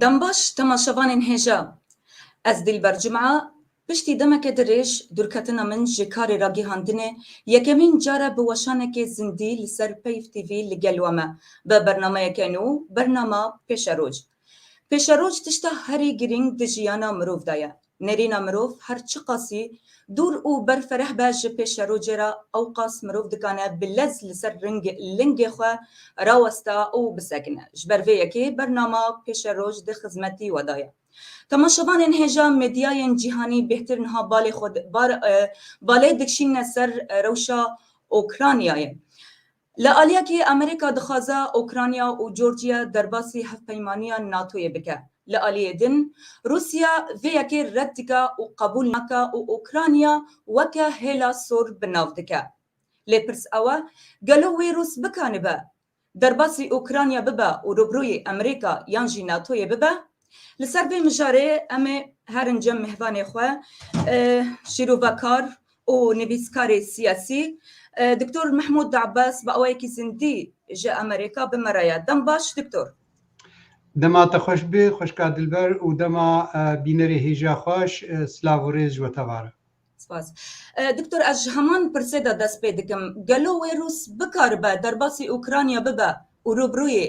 Dembaş temaşevanên hêja. Ez Dîlber Cum'a piştî demeke dirêj dûrketina min ji karê ragîhandinê yekemîn car e bi weşanekê zindî li ser Peyv TV li gel we me bi bernameyeke nû bernama Pêşeroj. Pêşeroj tişta herî girîng di jiyana mirov de ye. Nêrîna mirov her çiqasî dûr û berfereh be ji pêşerojê re ewqas mirov dikane bi lez li ser lingê xwe raweste û bisekine. Ji ber vê yekê bernama Pêşeroj di xizmetî we de ye. Temaşevanên hêja medyayên cîhanî bêhtir niha balê xwe balê dikişîne ser rewşa Ûkranyayê. Li aliya kê Amerîka dixwaze Ûkranya û Georgiya derbasî hevpeymaniya NATO'yê bike. Li aliyê din Rûsya vê yekê red dike û qebûl nake û Ûkranya weke hêla sor bi nav dike. Lê pirs ew e, gelo wê Rûs bikanibe derbasî Ûkranya bibe û rûbirûyê Amerîka yan jî NATO'yê bibe? Li ser vê mijarê em ê herin cem mehvanê xwe şîrovekar û nivîskarê siyasî Doktor Mehmûd De'bas bi awayekî zindî ji Amerêka bi me re ye. Dem baş Doktor. Dema te xweş bê xweşka dilber û dema bînerê hêja xweş silav û rêz ji we tevar e. Spas. Doktor ez ji heman pirsê de dest pê dikim. Gelo wê Rûs bikaribe derbasî Ûkranya bibe û rûbirûyê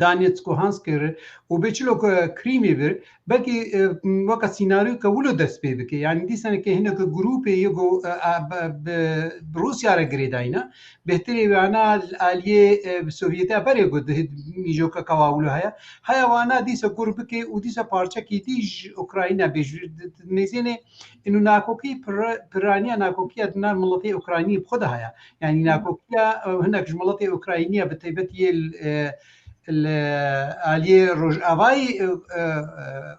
Danetskê, Hanskê re û bê çilo ku Krîmê bir belkî weka sînaryo ke wilo dest pê bike. Yani dîsenekê hineke grûpê yê ku bi Rûsya re girêdayîne bêhtirê wana aliyê Sovyetê berê ku di mîjoka ka wa wilo heye. Heya wana dîsa kur bikê û dîsa parçekî dî ji Ukrayîna bê ji mêzênê û nakokî piraniya nakokiya di nav miletê Ukrayînî bi xwe de heye. Yanî nakokiya hinek ji welatê Ukraynî ya bi taybetî yê li aliyê Rojavayê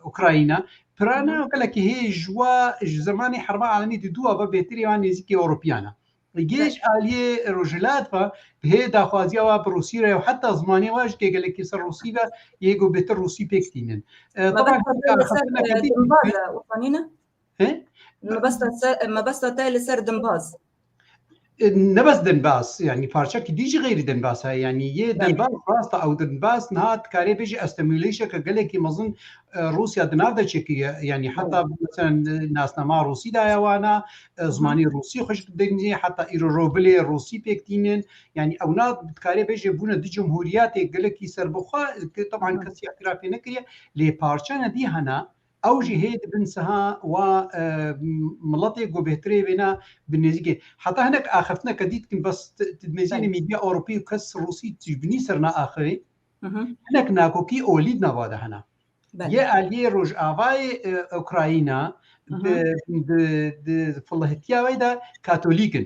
Ukrayna pirana gelekî hê ji wa ji zemanê herba alemî di dûa ve bêhtirê wan nêzîkê Ewropîyan e. Li gel ji aliyê Rojhilat ve bi hê daxwaziya wa bi Rûsî re û heta zimanê wa ji gelekî ser Rûsî ve yê ku bêhtir Rûsî pêk tînin. Taban Mebesta te li ser dimbaz. Nebes dimbaz yanî parçekî dî jî xêrî dimbaz heye yanî yê dimbaz rasta ew dimbaz niha dikarê bêjî estimulêşeke gelekî mezin Rûsya di nav de çekiye yanî heta nasnama Rûsî daye wana zimanî Rûsî xweş dingî heta îro robilê Rûsî pêk tînin yanî ew na dikarê bêjê bûne di cumhuriyetê gelekî serbixwe teban kesî îtirafê nekiriye lê parçene dî hena Ew jî hê dibin siha wa miletê ku bêhtirê vêna bi nêzîkê. Heta hinek axiftineke dî dikin bes dibêjînê mîdya Ewropî û kes Rûsî tijbinî ser naaxivê. Hinek nakokî olî di nava de hene. Yê aliyê Rojavayê Ukrayîna di filihitiya wê de Katolîk in.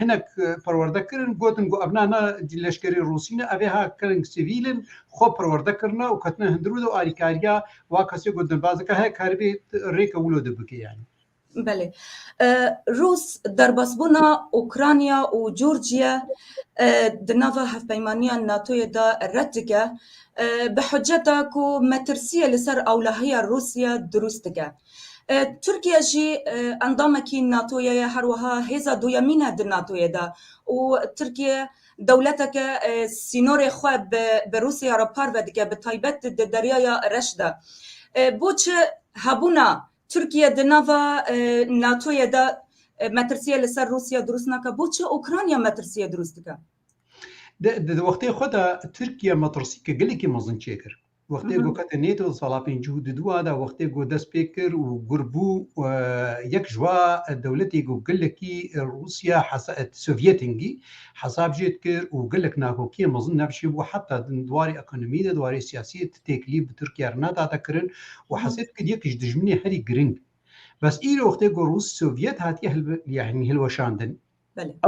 hinek perwerde kirin gotin ku ev nana leşkerê Rûsî ne ev ê ha kirin sivîl in xwe perwerde kirine û ketine hundir û de alîkariya wa kesê ku din baz dike heye karibê rêke wilo de bike yanî. Belê. Rûs derbasbûna Ûkranya û Curciye di nava hevpeymaniya NATOyê de red dike bi hiceta ku metirsiyê li ser ewlahiya Rûsiye dirûst dike. Tirkiye jî endamekî NATO'yê ye, her wiha hêza duyemîn e di NATO'yê de û Tirkiye dewleteke sînorê xwe bi Rûsya re parve dike bi taybet di Deryaya Reş de. Boçi hebûna Tirkiye di nava NATO'yê de metirsiyê li ser Rûsya dirûst nake? Boçi Ûkranya metirsiyê dirûst dike? Di wextê xwe de Tirkiye metirsiyeke gelekî mezin çêkir. Wextê ku kete nê di sala pêncû di dûa de wextê ku dest pê kir û gur bû yek ji wa dewletê ku gelekî Rûsya Sovyetên gî hesab jê dikir û gelek nakokiyên mezin navçî bû heta din di warê ekonomî de di warê siyasiyê ti têkilî bi Tirkiye re nedate kirin û hesê dikir yek ji dijminê herî giring bes îro wextê ku Rûs Sovyet hatiye hilweşandin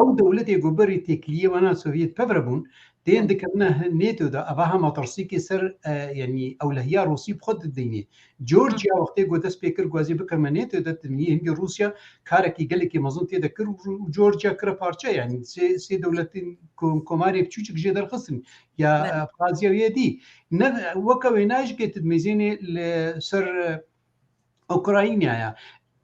Ew dewletê ku berî têkiliyê wana Sovyet pevre bûn, tên dikevine NATO de, eva ha matirsîkê ser yanî ewlehiya Rûsî bi xwe didînê. Georgia wextê ku dest pê kir ku ez ê bikevime NATO de, dimînî hingê Rûsya karekî gelekî mezin tê de kir û Georgia kire parçe. Yanî sê dewletên komarê piçûçik jê derxistin ya Abxazya û yê dî. Ne weke wêne jikê tu dimezînî li ser Ukrayna ya.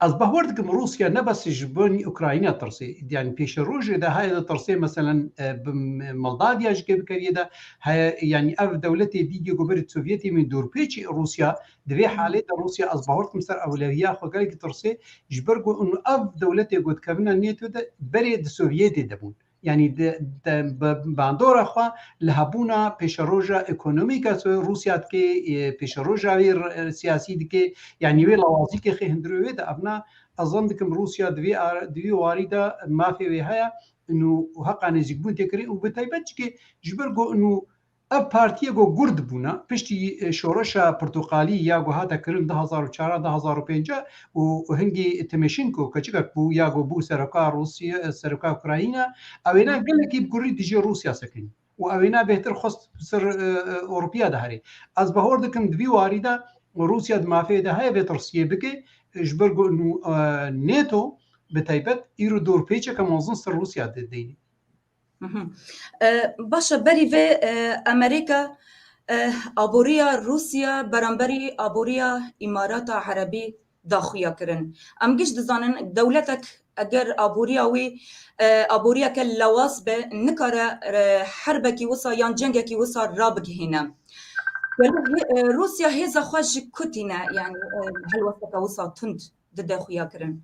Ez bahwer dikim Rusya ne bes ji bin Ukrayna tirsê. Yani pêşê rojê de heye de tirsê meselen e, bi Moldavya ji kêbikeriye de heye yani ev dewletê dîgê ku berî Sovyetê min dûrpêçî Rusya di vê halê de Rusya ez bahwer dikim ser ewleviya xwe gelekî tirsê ji ber ku ev dewletê gotkevina NATO de berê di Sovyetê de bûn. yanî bi bandora xwe li hebûna pêşeroja ekonomîk e Rûsya dikê, pêşeroja wê siyasî dikê, yanî wê lawazîkê xê hundirê wê de evna ez zan dikim Rûsya di vê di vê warî de mafê wê heye û heqa nêzîkbûn tê kirin û bi taybet jî ke ji ber ku Ev partiyê ku gurd bûna piştî şoreşa pirtoqalî ya ku hate kirin du hezar û çar a du hezar û pênc a û hingî Tîmêşînko keçikek bû ya ku bû seroka Rûsî seroka Ukrayîna ew êna gelekî bi kurî dijî Rûsya sekinî û ew êna bêhtir xwest bi ser Ewropîya de herî. Ez bahor dikim di vî warî de Rûsya di mafê de heye vê tirsiyê bike ji ber ku nû Nato bi taybet îro dorpêçeke mezin ser Rûsya dê deynî. Baş e berî vê Emerîka aboriya Rûsya beramberî aboriya Îmarata Erebî daxuya kirin. Em giş dizanin dewletek eger aboriya wî aboriyeke lawas be nikare herbekî wisa yan cengekî wisa rabigihîne. Rûsya hêza xwe ji ku tîne yani helwesteke wisa tund dide xuya kirin.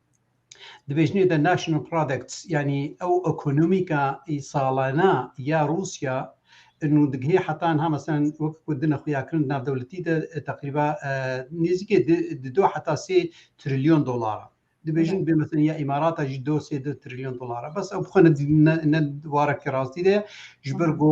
Di bêjnê de National Products yanî ew ekonomîka salana ya Rûsya nû digihê heta niha meselan wek ku dina xuyakirin di navdewletî de teqrîba nêzîkê di du heta sê trilyon dolar e. Dibêjin bê meselin ya Îmarata jî do sê du trilyon dolar e. Bes ew bi xwe ne di warekî rastî de ye ji ber ku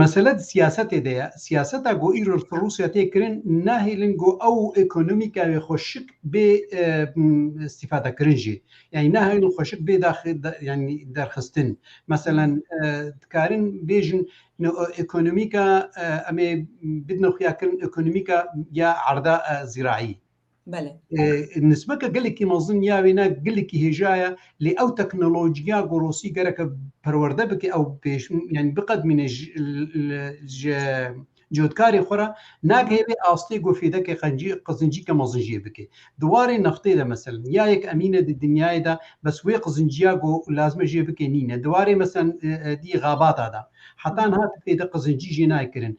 Mesele di siyasetê de ye. Siyaseta ku îro li Rûsya tê kirin nahêlin ku ew ekonomîka wê xweşik bê îstîfadekirin jî. Yanî nahêlin xweşik bê yanî derxistin. Meselen dikarin bêjin ekonomîka em ê bidin xuyakirin ekonomîka ya erda zîraî. Belê. Nisbeke gelekî mezin ya wê ne gelekî hêja ye lê ew teknolojiya gorosî gereke perwerde bike ew pêş yani biqedmîne ji cotkarê xwe re nagihêvê astê ku fêdekê qencî qizincîke mezin jê bike. Di warê nextê de meselin ya yek emîne di dinyayê de bes wê qizinciya ku lazime jê bike nîne. Di warê meselin dî xabata de heta niha tu fêde qizincî jê nayê kirin.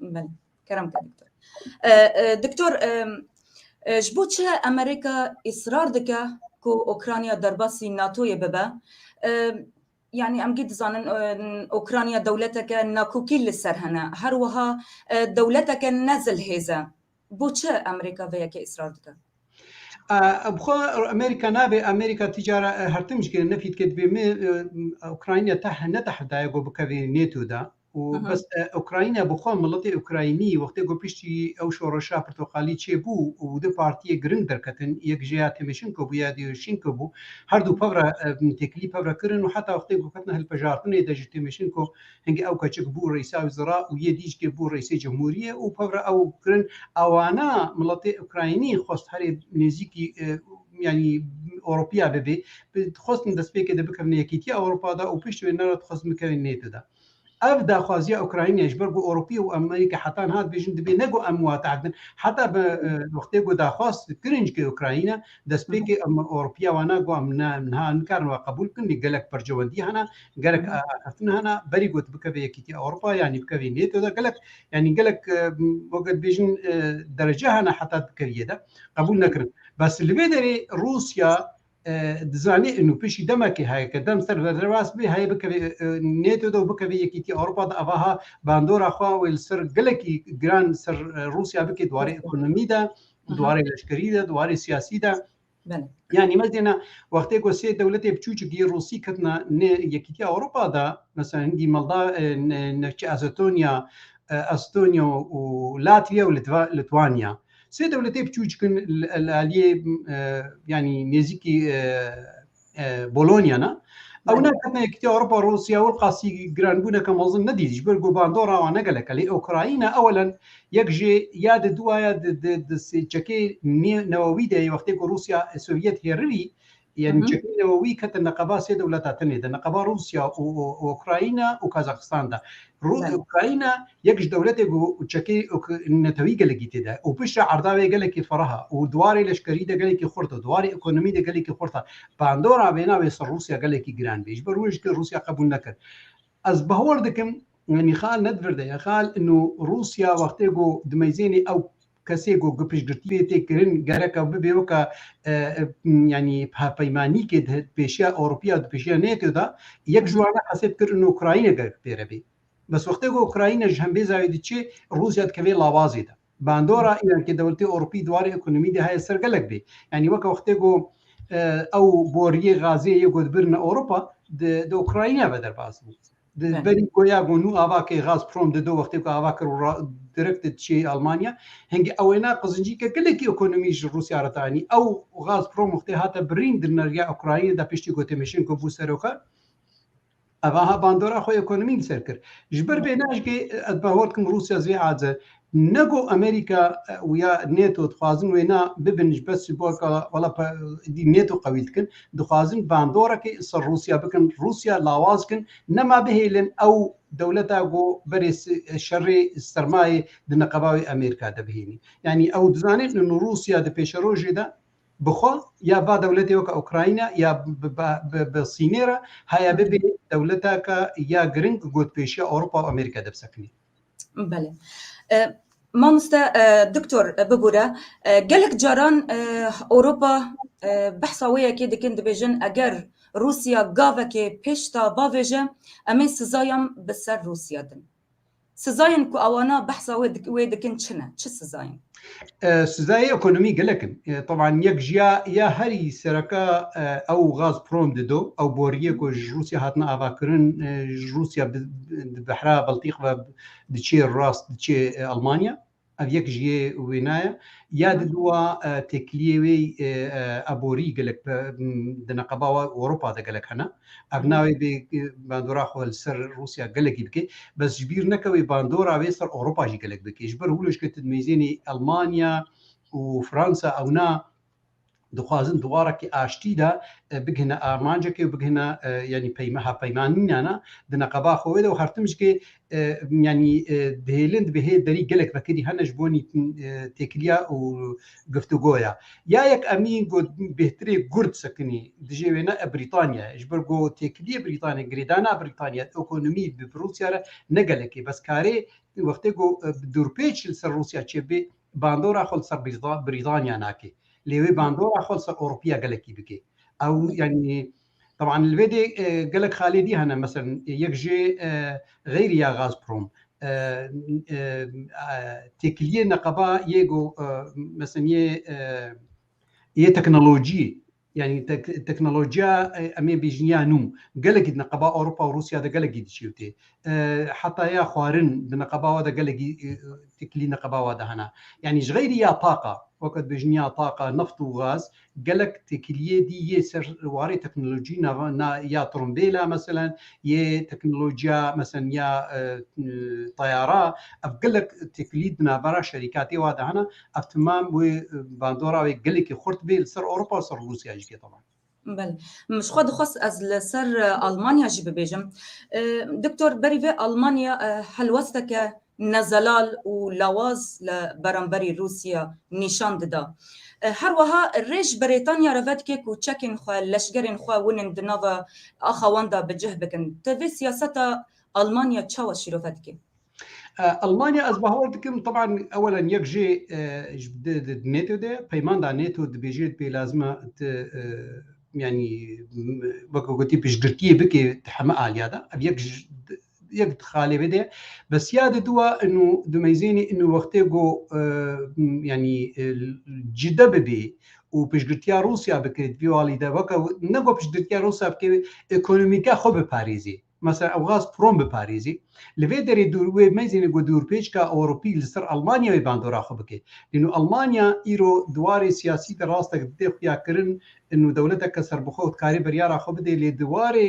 Belê, kerem ke doktor. Doktor, ji bo çi Amerîka îsrar dike ku Ûkranya derbasî NATO'yê bibe? Yanî em gî dizanin Ûkranya dewleteke nakokî li ser hene, her wiha dewleteke ne zilhêz e. Bo çi Amerîka vê yekê îsrar dike? Bixwe Amerîka nabê, Amerîka ti cara her tim jî ne fît ke divê min Ûkranya teh ne teh daye ku bikevê NATO'da. û bes Ukrayna bi xwe miletê Ukraynî wextê ku piştî ew şoreşa pirtoqalî çêbû û du partiyê giring derketin yek ji ya Tîmîşinko bû ya Dîyûrşînko bû her du pevra têkilî pevra kirin û heta wextê ku ketina hilpejartinê de ji Tîmîşinko hingî ew keçik bû Rêysa Wizera û yê dî jikê bû Rêysê Cumhûriyê û pevra ew kirin awana miletê Ukraynî xwest herê nêzîkî yanî Ewropiya bibê dixwestin destpêkê de bikevin Yekîtiya Ewropa de û piştî wê nerat dixwestin bikevin NATO de. Ev daxwaziya Ukraynayê ji ber ku Ewropî û Amerîka heta niha dibêjin dibê ne ku em wate hev bin heta bi wextê ku daxwaz kirin ji Ukrayna destpêkê Ewropîya wana ku em ne niha em nikarin we qebûl bikin lê gelek percewendî hene gelek axiftin hene berî ku tu bikevî Yekîtîya Ewropa yanî bikevî NATO de gelek yanî gelek weke dibêjin derece hene heta bikevî yê de qebûl nekirin bes li vê derê Rûsya Dizanî û piştî demekê heye ke dem ser ve rewest bê heye bikevê NATO de û bikevê Yekîtîya Ewropa de evaha bandora xwe wê li ser gelekî giran li ser Rûsya bikê di warê ekonomî de, di warê leşkerî de, di warê siyasî de. Yanî me dêna wextê ku sê dewletê biçûçikî Rûsî ketina nê Yekîtîya Ewropa de mesela hingî Molda navçî Ezetonya, Estonyo û Latviya û Litwanya. Sê dewletê piçûçik in li aliyê yanî nêzîkî Bolonyana. Ew neketina Yekîtiya Ewropa Rûsya û qasî giranbûneke mezin nedît ji ber ku bandora wan ne gelek e. Lê Ukrayna ewelen yek jê ya di duwaya di çekê newewî de yê wextê ku Rûsya Sovyet hêrirî Yê nûçeyên newewî ketin neqeba sê dewleta tinê de, neqeba Rûsya û Ukrayna û Kazaxistan de. Ukrayna yek ji dewletê ku çekê netewî gelekî tê de û piştre erda wê gelekî ferah e û di warê leşkerî de gelekî xurt e, di warê ekonomî de gelekî xurt e. Bandora vêna wê ser Rûsya gelekî giran bê. Ji ber wê jî ke Rûsya qebûl nekir. Ez bawer dikim, Mîxail nedvir de ye, Mîxail, ino Rûsya wextê ku di meyzênê ew Kesê ku ku piştgirtî lê tê kirin gereka bibe weka yanî hevpeymanîkê di pêşiya Ewropî ya di pêşiya NATO da yek ji wan e hesêb kir û Ukrayîne gerek pêre bê. Bes wextê ku Ukrayîne ji hembêza wê diçê Rûsya dikeve lawazê de. Bandora îrankê dewletê Ewropî di warê ekonomî de heye ser gelek bê. Yanî weka wextê ku ew boriyê gazê yê ku dibirine Ewropa di Ukrayîne ve derbas bû. Di berî ku ya got nû ava kê Gazprom di do wextê ku ava kir û direkt di çiyê Almanya. Hingî ew ê na qizincîke gelekî ekonomî ji Rûsya re tê anî. Ew Gazprom wextê hate birîn di neriya Ukraynê de piştî ku Têmeşenko bû seroka ev aha bandora xwe ekonomî li ser kir. Ji ber vê ne ez jî ez bi hol dikim Rûsya zivê aciz e. Ne ku Amerîka û ya NATO dixwazin wêna bibin ji ber sîmbolka wala êdî NATO qewî dikin, dixwazin bandorekê li ser Rûsya bikin, Rûsya lawaz bikin, nema bihêlin ew dewleta ku berê şerê sermayê di neqeba wê Amerîka de bihênî. Yanî ew dizanîn li Rûsya di pêşerojê de bi xwe ya ba dewletê weka Ukrayna ya bi Sînê re haya bibê dewleteke ya giring gotpêşiya Ewropa û Amerîka de bisekinî. Belê. Mamoste Doktor bibûre gelek caran Ewropa behsa wê yekê dikin dibêjin eger Rûsya gavekê pêşta bavêje em ê sizayan bi ser Rûsya din. Sizayan ku ewana behsa wê dikin çi ne? Çi sizayan? Sizayê ekonomî gelek in. Teban yek ji ya ya herî sereke ew Gazprom dido, ew boriyê ku ji Rûsya hatine avakirin, ji Rûsya bi di behra Baltîk ve diçê rast diçê Elmanya. Ev yek ji yê wêna ye. Ya di dûa têkiliyê wê eborî gelek di neqeba Ewropa de gelek hene. Ev nayê vê bandora xwe li ser Rûsya gelekî bike, bes ji bîr neke wê bandora wê ser Ewropa jî gelek bike. Ji ber hûlûşketin mêzênî Elmanya û Fransa ewna dixwazin di warekî aştî de bigihine armancekê û bigihine yanî peyma hevpeymanînana di neqeba xwe wê de û her tim jikê yani dihêlin di hê derî gelek vekirî hene ji bonî têkiliya û giftugoya. Ya yek emîn got bêhtirê gurd sekinî dijê wê ne e Brîtanya ye. Ji ber ku têkiliyê Brîtanya girêdana Brîtanya ekonomî bi Rûsya re ne gelekê bes karê wextê ku bi dûrpêç li ser Rûsya çêbibê bandora xwe li ser Brîtanya nakê. Lê wê bandora xwe li ser Ewropiya gelekî bikê. Ew yani Teban li vê dê gelek xalê dî hene meseln yek jê xeyrî ya Gazprom têkiliyê neqeba yê go meseln yê yê teknolojî yanî teknolojiya em ê bêjin ya nû gelekî di neqeba Ewropa û Rûsya de gelekî diçêwtê. Heta ya xwarin di neqeba we de gelekî têkilî neqeba we de hene. Yanî ji xeyrî ya taqa weke dibêjin ya taqa, neft û gaz Gelek têkiliyê dî yê ser warê teknolojî na ya trombêla meselen yê teknolojiya meselen ya tayara ev gelek têkilî di navbera şerîkatê wa de hene. Ev timam wê bandora wê gelekî xurt bê li ser Ewropa û ser Rûsya jî bê. Belê. Ji xwe dixwest ez li ser Almanya jî bibêjim. Doktor berî vê Almanya helwesteke ne zelal û lawaz li beramberî Rûsya nîşan dida. Her wiha rê ji Brêtanya re vedike ku çekên xwe, leşgerên xwe winên di nava axa wan de bi cih bikin. Te vê siyaseta Almanya çawa şîrove dike? Almanya ez bawer dikim teban ewelan yek jê di NATO de peyman da NATO dibêje pê lazim e tu yanî wek ku gotî piştgirtiyê bikê di heme aliya de. Ev yek ji yek dixalê vê de bes ya de duwa inu dumeyzênî inu wextê go yanî cide bibê û piştgirtiya Rûsya bikirît vî alî de weke ne go piştgirtiya Rûsya bikê ekonomîke xwe biparêzî mesela Ewgaz Prom biparêzî li vê derê dûr wê meyzênê go dûrpêçka Ewropî li ser Almanya wê bandora xwe bike inu Almanya îro di warê siyasî de rastek didê xuya kirin inu dewleteke serbixwe û dikarî biryara xwe bidê lê di warê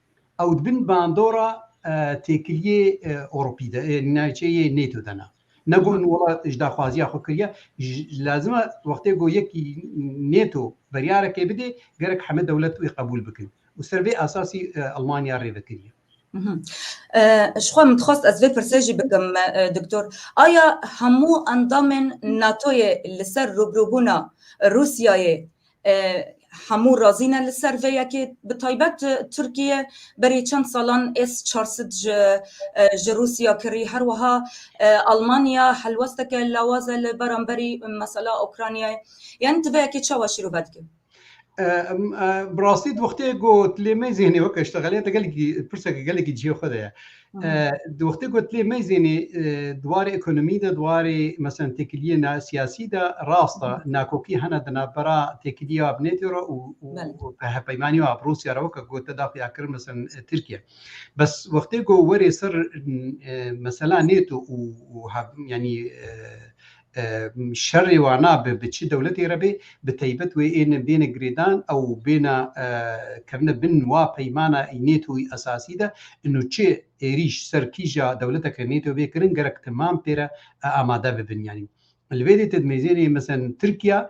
Ew di bin bandora têkiliyê Ewropî de ê, navçeyê NATO de ne. Ne got wela ji daxwaziya xwe kiriye. Lazim e wextê ku yekî NATO beryarekê bidê gerek heme dewlet wê qebûl bikin û ser vê esasî Elmanya rê vekiriye. Ji xwe min dixwest ez vê pirsê jî bikim Doktor, aya hemû endamên NATOyê li ser rûbirûbûna Rûsyayê Hemû razî ne li ser vê yekê. Bi taybet Tirkiye berî çend salan S çar sed ji ji Rûsya kirî. Her wiha Almanya helwesteke lawaz e li beramberî mesela Ûkranyayê. Yanî tu vê yekê çawa şîrove dikî? Bi rastî di wextê ku tu lê me zêhnê weke ji te xeliya te gelekî pirseke gelekî cihê xwe de ye. Di wextê ku tilê meyzênê di warê ekonomî de di warê meselen têkiliyê na siyasî de rast e nakokî hene di navbera têkiliyê wa bi NATO re û hevpeymanî wa bi Rûsya re weke ku te daxû ya kirin meselen Tirkiye. Bes wextê ku werê ser mesela NATO û yanî şerê wan nabe bi çi dewletê re bê bi taybet wê ên bêne girêdan ew bêna kirine bin wa peymana NATOyî esasî de ino çi êrîş ser kîja dewleteke NATO bê kirin gerek timam pê re amade bibin yanî li vê dê tedmêzênê mesen Tirkiya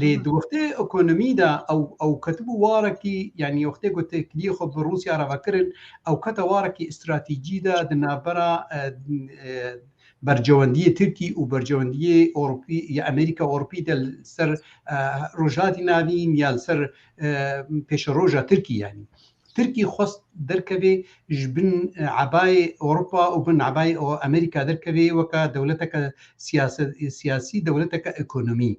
Lê di wextê ekonomî de ew ew ketibû warekî yanî wextê ku têkiliyê xwe bi Rûsya re vekirin ew kete warekî stratejî de di navbera bercewendiyê Tirkî û bercewendiyê Ewropî ya Amerîka Ewropî de li ser Rojhilatî Navîn ya li ser pêşeroja Tirkî yanî. Tirkî xwest derkevê ji bin ebayê Ewropa û bin ebayê Amerîka derkevê weke dewleteke siyasî, dewleteke ekonomî.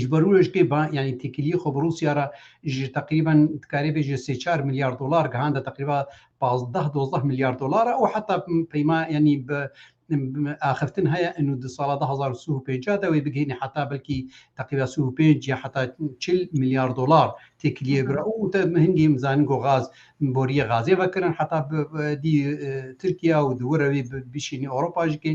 Ji ber wê ji ba yanî têkiliyê xwe bi Rûsya re ji teqrîben dikarê bê ji sê çar milyar dolar gihande teqrîba pazdeh dozdeh milyar dolar û heta peyma yanî bi axiftin heye û di sala du hezar û sih û pênceh de wê bigihîne heta belkî teqrîba sih û pênc ya heta çil milyar dolar têkiliyê bira û te hingî em zanin ku gaz boriyê gazê vekirin heta bidî Tirkiya û di wir re wî bişînî Ewropa jî kê.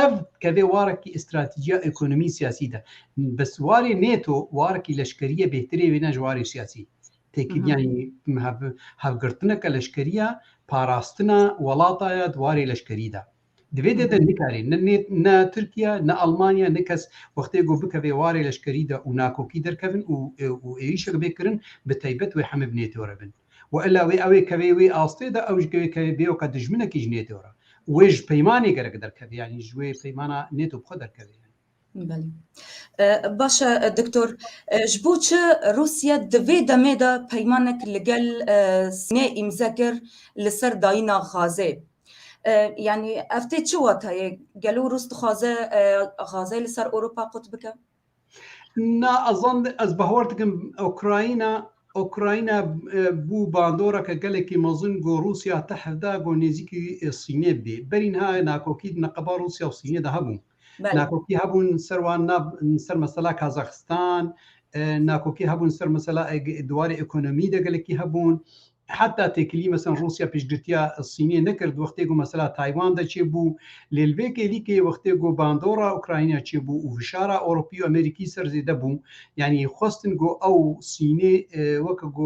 Ev kevê warekî îstratîjiya ekonomî siyasî de. Bes warê NATO warekî leşkerî ye bêhtirê wê ne ji warê siyasî. Têkiliya hevgirtineke leşkerî ya parastina welata ye di warê leşkerî de. Di vê dê de nikare ne Tirkiye, ne Elmanya, ne kes wextê ku bikeve warê leşkerî de û nakokî derkevin û û êrîşek bê kirin bi taybet wê hemê bi NATO re bin. Wa illa wê ew ê keve wê astê de ew ji wê keve bê weke dijminekî ji NATO re û wê ji peymanê gerek derkeve yanî ji wê peymana NATO bi xwe derkeve yanî. Baş e Doktor, ji bo çi Rûsya di vê demê de peymanek li gel Sînê îmze kir li ser dayîna Xazê? Yanî ev tê çi watayê? Gelo Rûs dixwaze Xazê li ser Ewropa qut bike? Na ez ez bawer dikim Ukrayna Ukrayna bû bandoreke gelekî mezin ku Rûsya teh da ku nêzîkî Sînê bî. Berî niha nakokî di neqeba Rûsya û Sînê de hebû. Nakokî hebûn ser wan na ser mesela Kazaxistan, nakokî hebûn ser mesela di warê ekonomî de gelekî hebûn. Heta têkilî mesela Rûsya pêşgirtiya Sînê nekir di wextê ku mesela Taywan de çêbû. Lê li vê kêlîkê wextê ku bandora Ukrayna çêbû û fişara Ewropî û Amerîkî ser zêde bû, yanî xwestin ku ew Sînê weke ku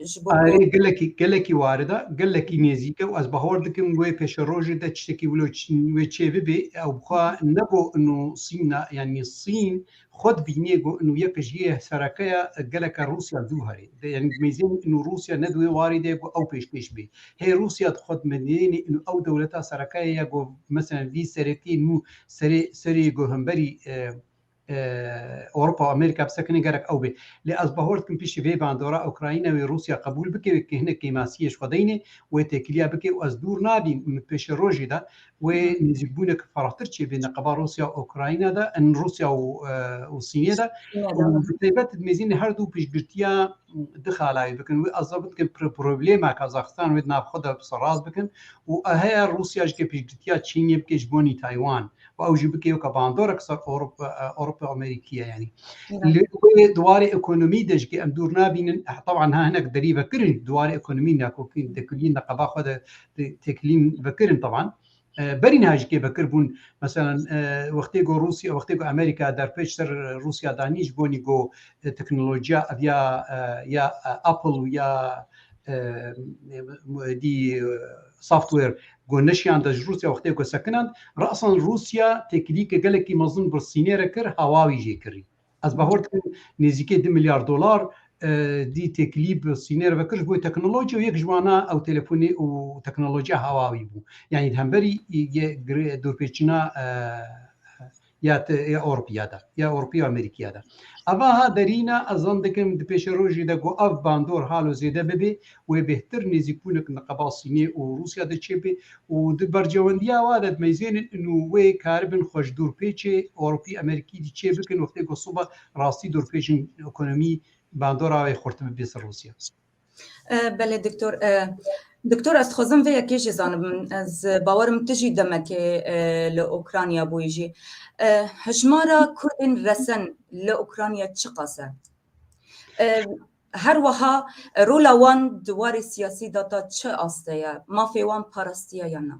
ji bo Erê gelekî gelekî warida gelekî nêzîke û ez bahor dikim wê pêşerojê de tiştekî wilo wê çê bibê ew bixwe ne go ino sîna yanî sîn xwe dibînê go ino yek ji yê serekeya geleke Rûsya dû herê de yanî mêzên ino Rûsya ne di wê warê de go ew pêşkêş bê hê Rûsya di xwe dimedînê ino ew dewleta serekeyê ye go meselen vî seretiyê nû serê serê go hemberî Ewropa û Amerîka bi sekinî gerek ew bê. Lê ez bawer dikim piştî vê bandora Ukrayna wê Rûsya qebûl bike wê ki hinek kêmasiyê ji xwe deynê wê têkiliya bike û ez dûr nabîm min bi pêşerojî de wê nêzîkbûnek ferahtir çêbî neqeba Rûsya û Ukrayna de in Rûsya û Sînê de û bi taybet mêzînê her dû piştgirtiya di xalayê bikin wê ez bawer dikim problema Kazaxistan wê di nav xwe de bi seraz bikin û heya Rûsya jike piştgirtiya Çînê bike ji bonî Taywan û ew jî bike yoka bandorek ser Ewropa Amerîkî ye yanî li wê di warê ekonomî de jî em dûr nabînin teban ha hinek derî vekirin di warê ekonomî ne ku tekilîn de qeba xwe de tekilîn vekirin teban berî niha jî vekir bûn mesela wextê ku Rûsya wextê ku Amerîka derpêç ser Rûsya danî ji bonî ku teknolojiya ev ya ya Apple û ya dî Software, Ku neşiyan de ji Rûsya wextê ku sekinand, rasan Rûsya têkilîyeke gelekî mezin bir Sînê re kir, Hawawi jê kirî. Ez bawer dikim nêzîkê du milyar dolar dî têkilî bi Sînê re vekir ji bo teknolojî û yek ji wan a ew telefonê û teknolojiya Hawawi bû. Yanî di hemberî dûrpêçîna ya te ya Ewropiya de ya Ewropiya Amerîkiya de. Eva ha derîna ez zan dikim di pêşerojê de ku ev bandor halo zêde bibê wê bêhtir nêzîkbûnik niqeba Sînê û Rûsya de çêbê û di bercewendiya wa de dimeyzênin in û wê karibin xweş dorpêçê Ewropî Amerîkî dî çê bikin wextê ku soba rastî dorpêçin ekonomî bandora wê xurt bibê ser Rûsya. Belê doktor. Doktor ez dixwazim vê yekê jî zanim ez bawerim tu jî demekê li Ukrayna bûyî jî. Hijmara Kurdên resen li Ukrayna çiqas e? Her wiha rola wan di warê siyasî de ta çi aste ye? Mafê wan parastiye ya na?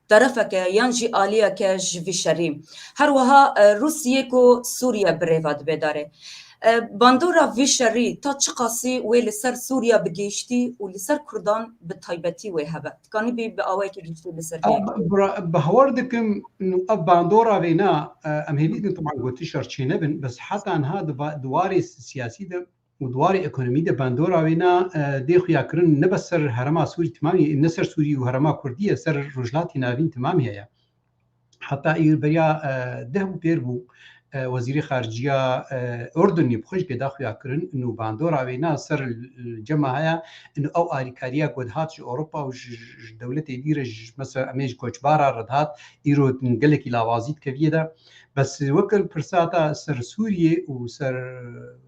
terefeke yan jî aliyeke ji vî şerî. Her wiha Rûsiyê ku Sûriye bi rêva dibe darê. Bandora vî şerî ta çi qasî wê li ser Sûriye bi gihiştî û li ser Kurdan bi taybetî wê hebe? Tikanîbî bi awayekî gihîştî li ser vê yekê. Bawer dikim ev bandora vêna, em hêvî dikin teban gotiş re çênebin, bes heta niha di warê siyasî de Û di warê ekonomî de bandora wê na dê xuya kirin ne bes ser herema Sûrî timamî ne ser Sûrî û herema Kurdî ye ser Rojhilatê Navîn timamî heye. Heta îro beriya deh bû pêr bû Wezîrê Xaricîya Urdunî bi xwe jî pê da xuya kirin û bandora wê na ser cema heye û ew alîkariya ku dihat ji Ewropa û ji dewletê dî re ji mesela em ê ji koçbar a re dihat îro gelekî lawazî dike vî yê de. Bes weke pirsa ta ser Sûrîyê û ser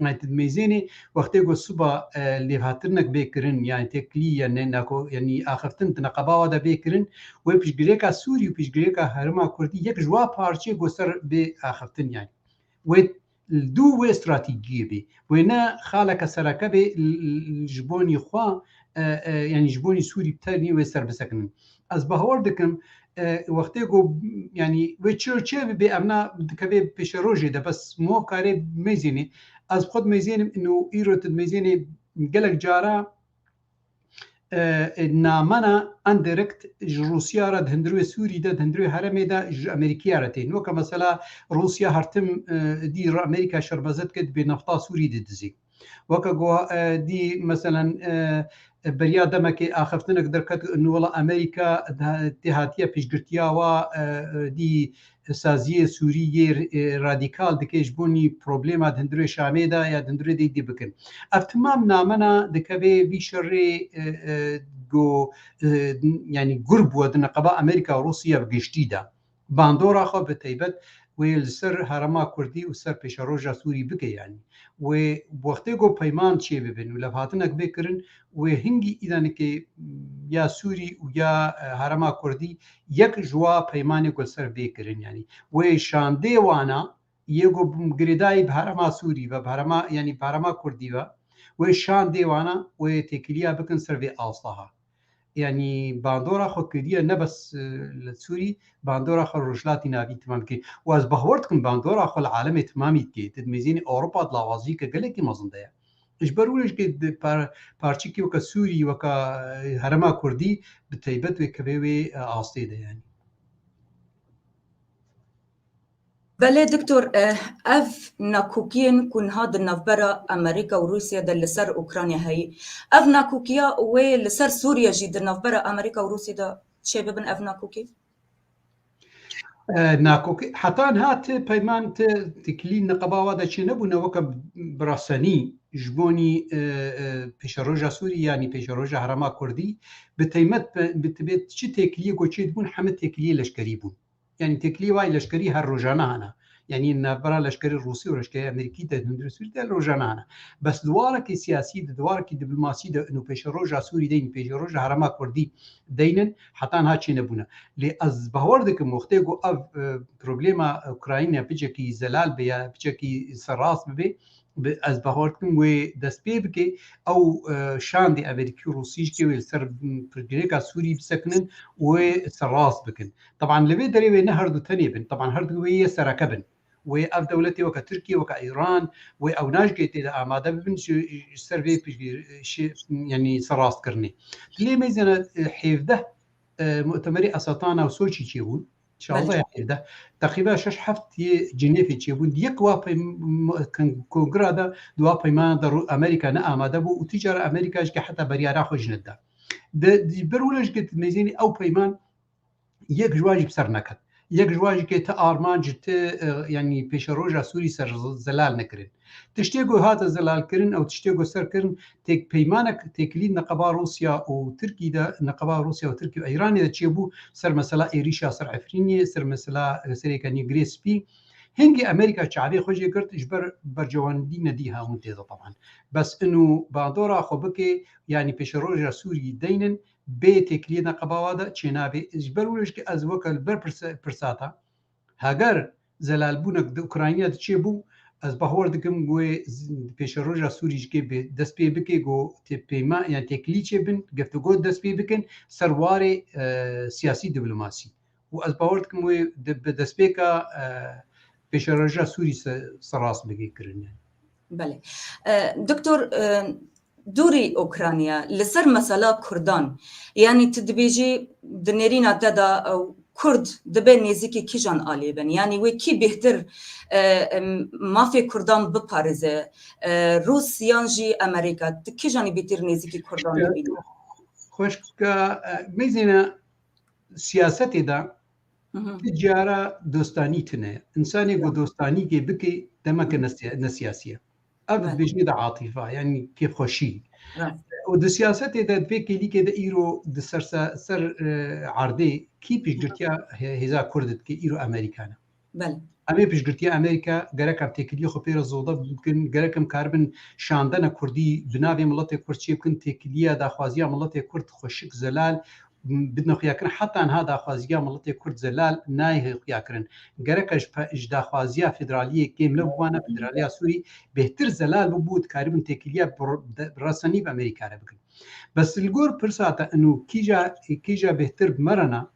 United Mêzênê wextê ku siba lêvhatirinek bê kirin yanî teklî ya ne nako yanî axiftin di neqeba wa de bê kirin wê piştgirêka Sûrî û piştgirêka Herêma Kurdî yek ji wa parçê ku ser bê axiftin yanî wê li dû wê stratîciyê bê wê ne xaleke sereke bê li ji bonî xwe yanî ji bonî Sûrî bi tenê wê ser bisekinin. Ez bahwar dikim wextê ku yanî wê çi û çê bibê evna dikevê pêşerojê de bes mo karê mêzênê ez xwe mêzênim û îro tu mêzênê gelek cara namena indirekt ji Rûsya re di hundirê Sûrî de di hundirê heremê de ji Amerîkaya re tê. Weke mesela Rûsya hertim dî re Amerîka şerbezet kir dibê nefta Sûrî didizî. Weke ku dî meselen beriya demekê axiftinek derket nu wela Amerîka tê hatiye piştgirtiya wa dî saziyê Sûrî yê radîkal dike ji bo nî problema di hundirê Şamê de ya di hundirê dê dî bikin. Ev timam namena dikeve vî şerê ku yanî gur bûye di neqeba Amerîka û Rûsya bi giştî de. Bandora xwe bi taybet wê li ser herêma kurdî û ser pêşeroja Sûrî bigeyanî. Wê wextê got peyman çê bibin û levhatinek bê kirin, wê hingî îdanikê ya Sûrî û ya herêma kurdî yek ji wa peymanê ku li ser bê kirin yanî wê şandê wana yê ku girêdayî bi herêma Sûrî ve bi herêma yanî bi herêma kurdî ve wê şandê wana wê têkiliya bikin ser vê astaha. Yanî bandora xwe kiriye ne bes li Sûrî, bandora xwe li Rojhilatî Navîn temam kir û ez bawer dikim bandora xwe li alemê temamî dike. Di dimêzînê Ewropa di lawaziyeke gelekî mezin de ye. Ji ber wî jî di parçeyekî weke Sûrî, weke herêma Kurdî bi teybet wê kevê wê astê de ye. Belê Doktor, ev nakokiyên ku niha di navbera Amerîka û Rûsya de li ser Ûkranya heye, ev nakokiya wê li ser Sûrya jî di navbera Amerîka û Rûsya de çê bibin ev nakokî? Nakokî heta niha ti peyman ti ti kilî niqaba wa de çê nebûne weke bi rasenî ji bonî pêşeroja Sûrî yanî pêşeroja herêma Kurdî bi teymet bi tibê çi têkiliyê ku çê dibûn heme têkiliyê leşkerî bûn. Yanî têkilî wayî leşkerî her rojane hene. Yanî navbera leşkerê Rûsî û leşkerê Amerîkî de hundirê Sûrî de rojane hene. Bes di warekî siyasî de, di warekî dîplmasî de û pêşeroja Sûrî de yanî pêşeroja herêma Kurdî de yînin heta niha çênebûne. Lê ez bawer dikim wextê ku ev problema Ukrayîne bicekî zelal be ya bicekî serrast bibe bi ez bawer dikim wê dest pê bike ew şandê Amerîkî û Rûsî ji ke wê li ser pirsgirêka Sûrî bisekinin û wê serrast bikin. Teban li vê derê wê ne herdu tenê bin, teban herdu wê yê sereke bin. Wê ev dewletê weke Tirkiye, weke Îran, wê ewnaş gê tê de amade bibin ji ser vê piştgî şê yanî ser rastkirinê. Di lê mêzê ne hêvdeh mutemerê Esatana û Soçî çêbûn. Şaldaya hêvdeh. Teqîben şeş heft yê Cinêfê çêbûn. Di yek wa kongira de di wa peymana de rû Amerîka ne amade bû û tu cara Amerîka ji ke heta beriyara xwe ji ne dida. Di ber wina ji ke mêzênê ew peyman yek ji wan jî bi ser neket. Yek ji wan jî kê ti armanc ti yanî pêşeroja Sûrî ser zelal nekirin. Tiştê ku hate zelalkirin ew tiştê ku serkirin têk peymanek têkilî neqeba Rûsya û Tirkî de neqeba Rûsya û Tirkî û Îranê de çêbû ser mesela êrîşa ser Efrînê, ser mesela serê kenî Girê Spî. Hingî Amerîka çavê xwe jê girt ji ber bercewandî nedî hewin tê de teban. Bes inu bandora xwe bikê yanî pêşeroja Sûrî deynin Bê têkiliyê ne qebawa de çênabê. Ji ber wilo jî ez weke li ber pirsata heger zelalbûnek di Ukrayna de çêbû, ez bahwer dikim ku wê di pêşeroja Sûrî jî kê dest pê bike ku peyma yan têkilî çêbin, geftugo dest pê bikin ser warê siyasî-dîplomasî. û ez bawer dikim wê bi destpêka pêşerewja Sûrî serast bike kirine. Belê. Doktor dûrî Ûkranya li ser mesela Kurdan yanî tu dibêjî di nêrîna te de ew Kurd dibe nêzîkî kîjan aliyê bin? Yanî wê kî bêhtir mafê Kurdan biparêze? Rûs yan jî Emerîka? Tu kîjanî bêtir nêzîkî Kurdan dibînî? Xweşka mezîna Siyasetê de ti cara dostanî tune ye. Însanê ku dostanî kê bikê demeke ne siyasî ye. Ev dibêjin de atîfa yanî kê xweşî. Û di siyasetê de di vê kêlîkê de îro di ser erdê kî piştgirtiya hêza Kurd dike îro Amerîka ne. Belê. Em ê piştgirtiya Amerîka gerek em têkiliyê xwe pê re zodev bikin, gerek em karibin şandena kurdî di navê miletê kurd çê bikin, têkiliya daxwaziya miletê kurd xweşik zelal bidine xuyakirin. Heta niha daxwaziya miletê kurd zelal nayê xuyakirin. Gerek e ji daxwaziya federaliyê kêm nebûbane, federaliya Sûrî bêhtir zelal bûbû dikaribin têkiliya bi resenî bi Amerîka re bikin. Bes li gor pirsa te ino kîja kîja bêhtir bi me re na,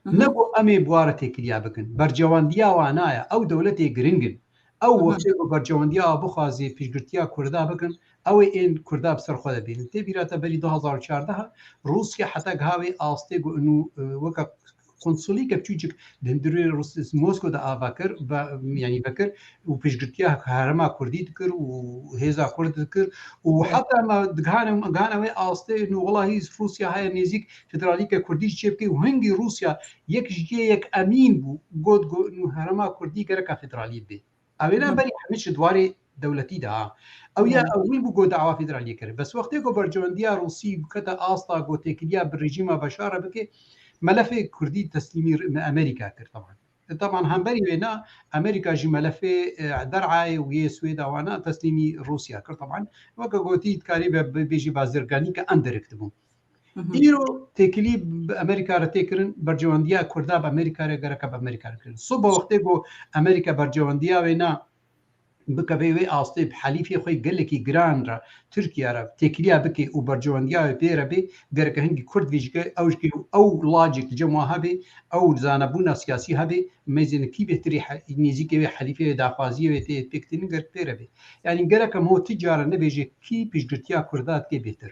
Ne ku em ê buware têkiliya bikin. Bercewandiya wan na ye. Ew dewletê giring in. Ew wextê ku bercewandiya wa bixwazê piştgirtiya Kurda bikin, ew ê ên Kurda bi ser xwe de bînin. Tê bîra te berî du hezar û çardeh e Rûsya heta giha wê astê ku inû weke konsulîkek çûçik di hundirê Moskow de ava kir yanî vekir û piştgirtiya herêma Kurdî dikir û hêza Kurd dikir û heta me gihane wê astê inû welahi Rûsya heye nêzîk Federalîka Kurdî ji çêbikê û hingî Rûsya yek ji cihê yek emîn bû got ku nû herêma Kurdî gereka federalî bê. Ew ê ne berî hemî ji dwarê dewletî de ha. Ew ya ewil bû ku dawa federaliyê kir. Bes wextê ku berjewendiya Rûsî bikete asta ku têkiliya bi rejîma Beşar e bike, melefê Kurdî teslîmî Amerîka kir taban. Taban hemberî wê ne Amerîka jî melefê der'ayê û yê Swêda wan e teslîmî Rûsya kir taban. Weke gotî dikarî bibêjî bazirganîka endirekt bû. Îro têkilî bi Amerîka re tê kirin, bercewendiya Kurda bi Amerîka re gereka bi Amerîka re kirin. Soba wextê ku Amerîka bercewendiya wê na bikeve wê astê bi helîfê xwe gelekî giran re Tirkiye re têkiliya bike û bercewendiya wê pê re bê gereke hingî Kurd vê jike ew jike û ew lajê ki cem wan hebe ew zanebûna siyasî hebe mêzên kî bêhtirî nêzîkê wê helîfê wê daxwaziyê wê tê pêktinîn gerek pê re bê yanî gerek em ho ti cara nebêje kî piştgirtiya Kurda dike bêhtir.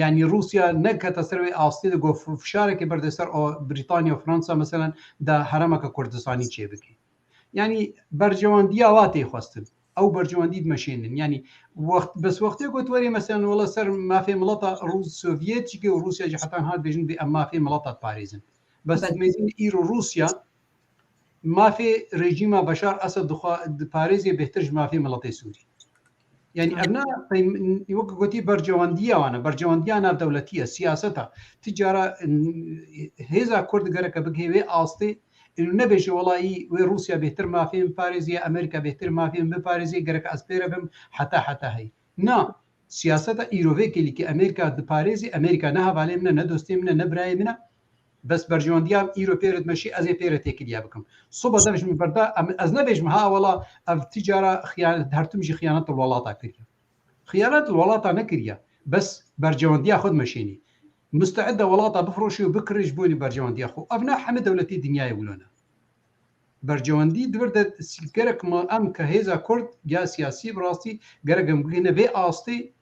Yanî Rûsya nekete ser wê astê de ku fişarekê berde ser Brîtanya, Fransa meselen da heremeke Kurdistanî çêbike. Yanî berjewandiya wa tê xwestin. Ew berjewendî dimeşênin. Yanî wext bes wextê ku tu werî meselen wela ser mafê milata Rûs Sovyet jî û Rûsya jî heta niha dibêjin divê em mafê milata diparêzin. Bes mêzin îro Rûsya mafê rejîma Beşar Esed dixwa diparêzê bêhtir ji mafê miletê Sûrî. Yani ev ne wek gotî bercewandiya wan e, bercewandiya navdewletî ye, siyaset e. Ti cara hêza Kurd gereke bigihê wê astê û nebêje welayî wê Rûsya bêhtir mafê min biparêzî ya, Amerîka bêhtir mafê min biparêzî ya, gerek ez pê re bim heta heta hey. Na, siyaseta îro vê kêlî ke Amerîka diparêzî, Amerîka ne hevalê min e, ne dostê min e, ne birayê min e, Bes berjewendîya îro pê re dimeşî ez ê pê re têkilîya bikim. Soba dev ji min berda ez nebêjim ha wela ev ti cara xîyanet her tim jî xîyanet li welata kiriye. Xîyanet li welata nekiriye. Bes berjewendîya xwe dimeşînî. Musteid e welata bifroşî û bikire ji bonî berjewendîya xwe. Ev ne hemî dewletî dinyayê wilo ne. Berjewendî divir de gerek ma em ke hêza kurd ya siyasî bi rastî gerek em bigihîne vê astê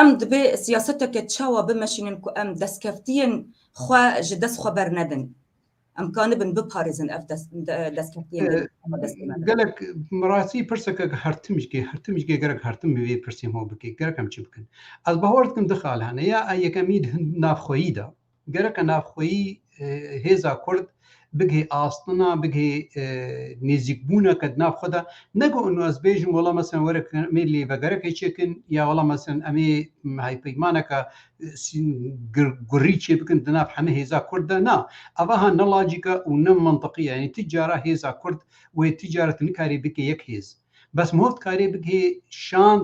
Em divê siyaseteke çawa bimeşînin ku em destkeftiyên xwe ji dest xwe bernedin. Em kanibin biparêzin ev destkeftiyên li me dest bidin. Gelek bi rastî pirseke hertim ji kê hertim ji kê gerek hertim bi vê pirsê me bike gerek em çi bikin. Ez bawer dikim di xal hene ya yekemîn di navxweyî de Gereke navxweyî hêza Kurd bigihê astina, bigihê nêzîkbûneke di nav xwe de. Ne ku û ez bêjim wela meselên were ku em ê lê vegerekê çêkin ya wela meselên em ê hevpeymaneke gurî çêbikin di nav hemû hêza Kurd de. Na, ev aha ne lojîk e û ne mintiqî ye. Yanî tu cara hêza Kurd wê tu cara tu nikarî bikî yek hêz. Bes miho dikarê bigihê şan.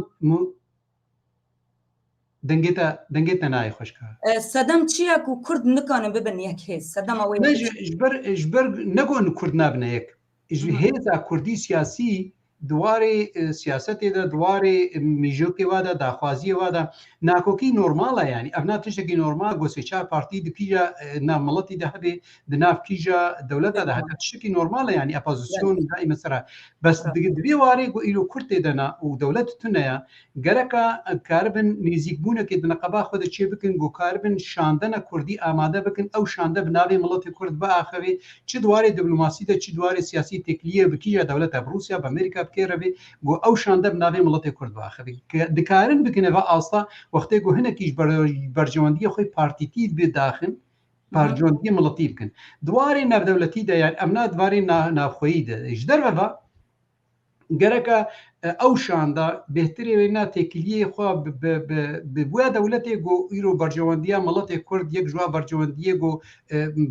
Dengê te dengê te nayê xweşka. Sedem çi ye ku kurd nikanin bibin yek hêz? Sedema wê Ne ji ji ber ji ber ne gon kurd nabine yek. Ji hêza kurdî siyasî di warê siyasetê de, di warê mîjokê wa de, daxwaziyê wa de nakokî normal e yanî. Ev na tiştekî normal go sê çar partî di kîja navmiletî de hebê di nav kîja dewleta de heta tiştekî normal e yanî epozîsyonî da îme sera bes di vê warê ku îro kurd tê de na û dewlet tune ya gereka karibin nêzîkbûnekê di neqeba xwe de çê bikin ku karibin şandena kurdî amade bikin ew şande bi navê miletê kurd biaxivê çi di warê dîplomasî de çi di warê siyasî têkiliyê bi kîja dewleta bi rûsya bi amerîka bi kê re bê ku ew şande bi navê miletê kurd biaxivê dikarin bikin eva asta wextê ku hinekî ji berjewendiyê xwe partîtî bidaxin parcondî miletî bikin. Di warê navdewletî de yan evna di varê navxweyî de ji derve ve gereka ew şanda bêhtirê wê na têkiliyê xwe bi bûya dewletê ku îro bercewendiya miletê Kurd yek ji wan bercewendiyê ku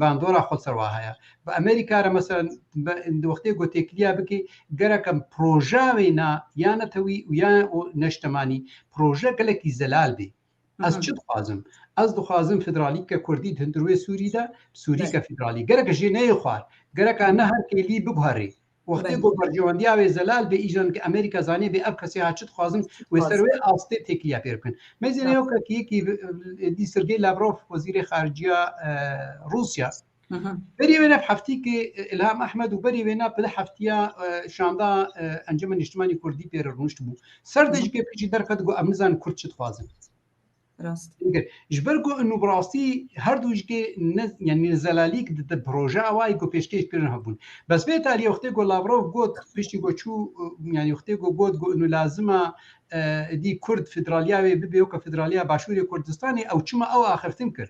bandora xwe ser wa heye. Bi Amerîka re mesela di wextê ku têkiliya bikî gereka proja wê na ya netewî û ya neştemanî proje gelekî zelal bê. Ez çi dixwazim? Ez dixwazim federalîke Kurdî di hundirûyê Sûrî de Sûrîke federalî. Gerek jê neyê xwar. Gerek a ne her kêlî biguherî. Wextê ku bercewendîya wê zelal bê îjan ki Amerîka zanî bê ev kesê ha çi dixwazim wê ser wê astê têkiliya pê bikin. Mêzê neyokekî yekî dî Sergey Lavrov wezîrê xaricîya Rûsya Berî wê ne heftîkê Ilham Ahmed û berî wê ne pide heftiya şanda Encama Nîştimanî Kurdî pê re rûnişt bû. Ser de ji kepî jî derxet got em nizanin Kurd çi dixwazin. Ji ber ku nû bi rastî her du jikê yanî zelalîk di projeya wa yê ku pêşkêş kirin hebûn. Bes vê talîyê wextê ku Lavrov got piştî ku çû yanî wextê ku got ku nû lazim e dî Kurd federaliya wê bibe weke federaliya Başûrê Kurdistanê ew çima ew axiftin kir.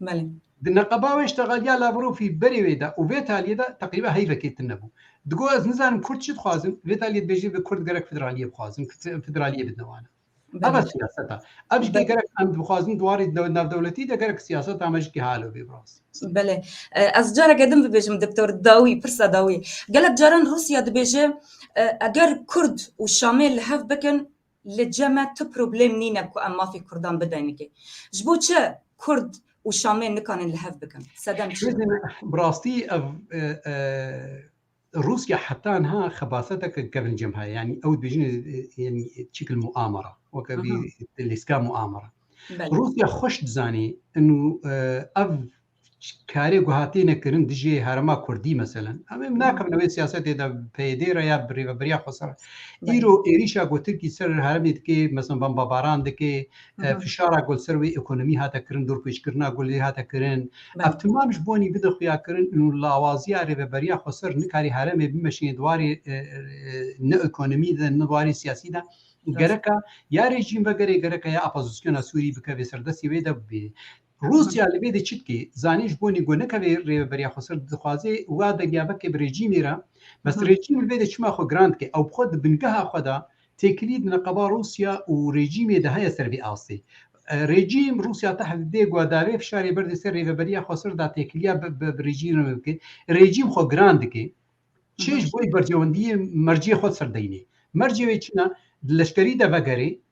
Belê. Di neqeba wê îştegalîya Lavrofî berê wê de û vê talîyê de teqrîben heyvekê tune bû. Digot ez nizanim kurd çi dixwazin, vê talîyê dibêjî bi kurd gerek federalîyê bixwazin, federalîyê bidine wan. Ev e siyaseta. Ev jî gerek em dixwazin di warî navdewletî de gerek siyaseta me jî halo bê bi rastî. Belê. Ez careke din bibêjim Doktor Dawî, pirsa Dawî. Gelek caran Rûsya dibêje eger kurd û Şamê li hev bikin, Li cem me tu problem nîne ku em mafê kurdan bidenike. Ji bo çi kurd û şamê nikanin li hev bikin? Sedem çi ye? Bi rastî ev Rûsya heta niha xebaseteke gerincem heye. Yanî ew dibêjin yanî çekil muamera. Weke vî lîstika muamera. Rûsya xweş dizanî û ev karê guha têne kirin dijê herma Kurdî meselen em êm nakevin wê siyasetê de PYD re ya bi rêveberiya xwe ser îro êrîşa ku Tirkî ser heremê dikê meselem bambabaran dikê fişara gul ser wê ekonomî hate kirin dorpêçkirina gulê hate kirin ev timam ji bonî bide xuya kirin û lawaziya rêveberiya xwe ser nikarî heremê bimeşînê diwarê ne ekonomî de ne diwarê siyasî de gereka ya rejîm ve gerê gereka ya apazosyona Sûrî bikevê ser destê wê de bibêjê Rûsya li vê de çi dike? Zanîn ji bo Nîgo nekeve rêveberiya xwe ser dixwaze wiha derya bike bi rejîmê re. Bes rejîm li vê de çima xwe giran dike? Ew bi xwe di bingeha xwe de têkilî di neqeba Rûsya û rejîmê de heye ser vê astê. Rejîm Rûsya teh dide ku da vê fişarê berdê ser rêveberiya xwe ser da têkiliya bi rejîm re bike. Rejîm xwe giran dike. Çi ji bo berjewendiyê mercê xwe ser deynê. Mercê wê çi ne? Di leşkerî de vegerê,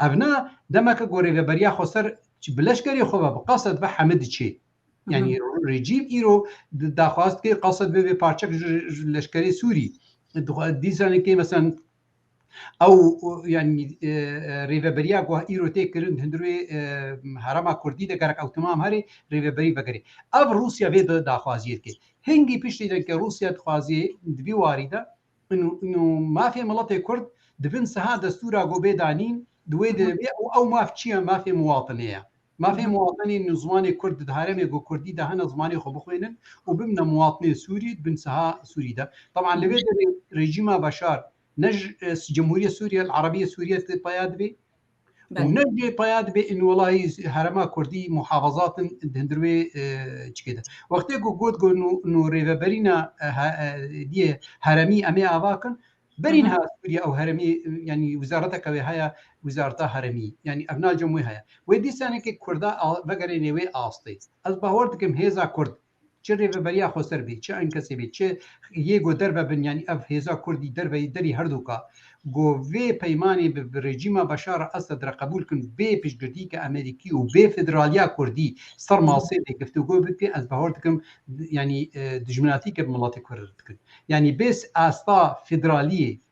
Ev na demeke ku rêveberiya Xweser bi leşkerê xwe ve bi qased ve heme diçê. Yanî rejîm îro daxwaz dike qased ve vê parçek ji leşkerê Sûrî dîsanekê meselan ew yanî rêveberiya ku îro tê kirin hundir wê herema Kurdî de gerek ew timam herê rêveberî vegerê. Ev Rûsya vê daxwaziyê dike. Hingî piştî de ke Rûsya dixwazê di vî warî de Ino mafê miletê kurd di bin siha destûra ku bê danîn di wê de be û ew maf çi ye? Mafê miwatinê ye. Mafê miwatinê ino ziwanê kurd di herêmê ku kurdî de hene ziwanê xwe bixwênin û bimne miwatinê sûrî di bin siha sûrî de. Teban li vê derê rejîma Beşar ne ji Cemhûriyê Sûriyel Erebiyê Sûriyê tê peya dibê û ne jê paya dibê înwelahî herema Kurdî muhafazat in di hundir wê çikê de. Wextê ku got ku nû rêveberîna diyê heremî em ê ava kin, berîn ha Sûriye ew heremî yanî wizareteke wê heye wizareta heremî yanî ev nacem wê heye. Wê dîsanekê Kurda vegerêne wê astê. Ez bawer dikim hêza Kurd Çi rêveberiya xweser bî, çi enkesê bî, çi yê ku derve bin yanî ev hêza kurdî derveyî derî herdoka ku vê peymanê bi rejîma Beşar a Esed re qebûl kin bê piştgirtîyeke Amerîkî û bê federaliya kurdî ser masê vê giftûgo bike ez bahor dikim yanî dijminatîyeke bi miletê kurd re dikin. Yanî bê asta federaliyê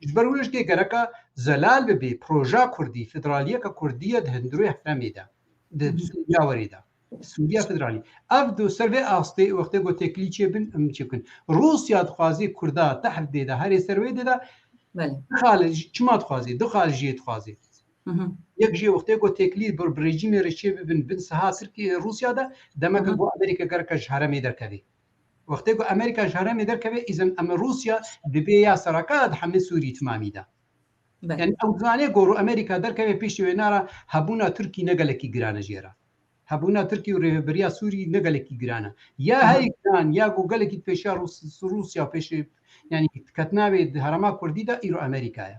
Ji ber wê ji dê gereka zelal bibê proja kurdî, federaliyeke kurdî ye di hundirê heremê de, di Sûriya werê de. Sûriya federalî. Ev di ser vê astê wextê ku têkilî çêbin em çê bikin. Rûsya dixwazê kurda tehr dê de herê ser wê dê de dixal çima dixwazê dixal jê dixwazê. Yek jê wextê ku têkilî bir bi rejîmê re çê bibin bin siha Tirkiye Rûsya de demeke ku Amerîka gereka ji heremê derkevê. Wextê ku Amerîka ji herêmê derkeve îzin em Rûsya dibê ya seraka di hemê Sûrî timamî de. Yanî ew dizanê ku Amerîka derkeve pêşî wêne re hebûna Tirkî ne gelekî giran e jê re. Hebûna Tirkî û rêveberiya Sûrî ne gelekî giran e. Ya herî giran ya ku gelekî di pêşiya Rûsya û pêşî yanî diketina wê di herêma Kurdî de îro Amerîka ye.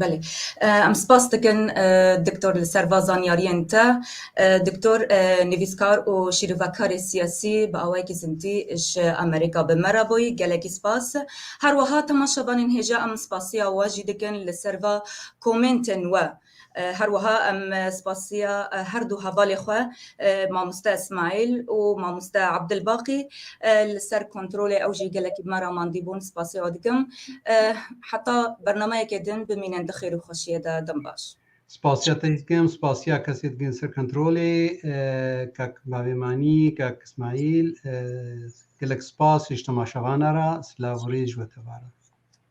Belê. Em spas dikin Doktor li ser va zanyariyên te. Doktor nivîskar û şîrovekarê siyasî bi awayekî zindî ji Amerîka bi me re bûyî. Gelekî spas. Her wiha temaşevanên hêja em spasiya we jî dikin li ser va komêntên we. Her wiha em spasiya her du hevalê xwe Mamoste Esmaîl û Mamoste Abdilbaqî li ser kontrolê ew jî gelekî bi me re mandî bûn spasê wan dikim. Heta bernameyekê din bimînin di xêr û xweşiyê de. Dem baş. Spasiya te jî dikim, spasiya kesê dikin li ser kontrolê kak Bavêmanî, kak Esmaîl. Gelek spas ji temaşevana re. Silav û rîz ji we tevare.